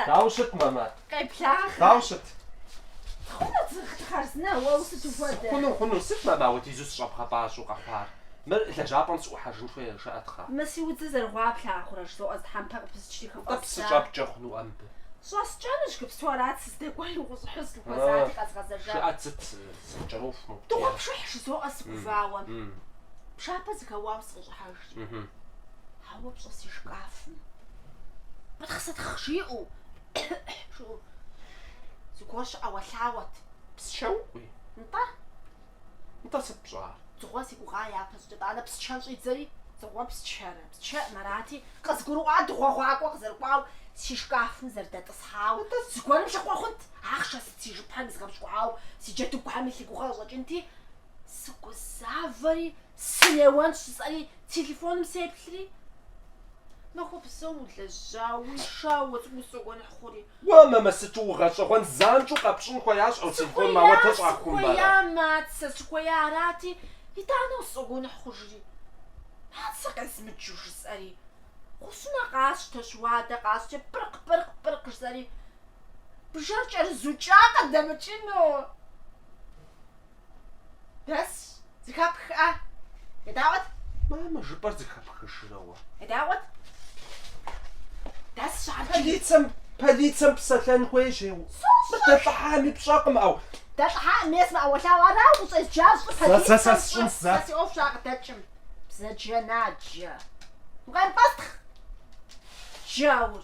Дауэ ущыт, мамэ? Къеблагъэ. Дауэ ущыт? Хъуну хъарзынэ, уэ усыту хуэдэ. Хъуну, хъуну, сыт мамэ апхуэдизу сыщӏэбгъэпӏащӏэу къэхъуар? Мыр лэжьапӏэм сыӏухьэжын хуей жаӏэ тхьэ. Мы си удзыр зэрыгъуа плъагъурэ, жызоӏэ зы тхьэмпэ къыпысчри хыфӏэздза. Тӏэкӏу псы щӏэпкӏэ хъунуӏэ мыбы? Щӏэскӏэнущ, иджыпсту арат сыздэкӏуэри укъыщӏыхьэу сыпхуэзати къэзгъэзэжа. Жыӏэт сыт Сыкӏэроху мыгу Дыгъуэпшыхь жызоӏэ сыгувауэ. М. Пшапэ зэхэуауэ сыкъыщӏыхьэж. Мхм. Ауэ пщӏэ си шкафым. Пытхъ-сытхъ жиӏэу, жыӏэу. Зыгуэр щыӏэуэлъауэт. Псчэукъуи? Нтӏэ. Нтӏэ сыт пщӏар? Дзыгъуэ си гугъа япэщӏыкӏэ, итӏанэ псчэр щӏидзэри, дзыгъуэр псчэрэ? Псчэм арати, къызгурыӏуа дыгъуэгъуакӏуэ къызэрыкӏуауэ си шкафым зэрыдэтӏысхьауэ. Нтӏэ. Зыгуэрым лъыхъуэ хъунт. Ахъшэ Си жыпхэм изгъэпщкӏуауэ си джэдыгухэм илъ и гугъэ къыщӏэкӏынти, сыгузавэри, сынеуэнщ жысӏэри, телефоным сеплъри, махуэ псом улэжьауи, шауэ цӏыкӏур сщӏэгуэныхь хъури. Уэ, мамэ, сыту угъэщӏэгъуэн, занщӏэу къэпщӏын хуеящ ӏэу телефоным, ауэдэ щӏахумэ ара? Сыхуея, сыхуея, Мацэ, сыхуея арати, итӏанэ усщӏэгуэныхь хъужри, Мацэ къезмыджу жысӏэри, гъущӏӏунэ къасщтэщ, уадэ къасщтэщ, пыркъ-пыркъ, пыркъ жысӏэри, Бжэр кӏэрызукӏа къыдэмыкӏыну. Дэс, зыхэпхӏэ. Едаӏуэт. Мамэ, жыпӏэр зыхэпхыжрэ уэ? Едаӏуэт. Дэс щабджи. Полицэм, полицэм псэлъэн хуей жеу. Сощӏэ. Дэлӏыхьами пщӏэкъым, ӏэу. Дэлӏыхьам ес мэӏэуэлъауэ арау ущӏезджар щӏы полицэм. Сэ, сэ, сэ сщӏын, сэ. Сэ си ӏуэху щакъыдэкӏым. Бзаджэнаджэ. Укъэмыпӏэстхъ. Джаур.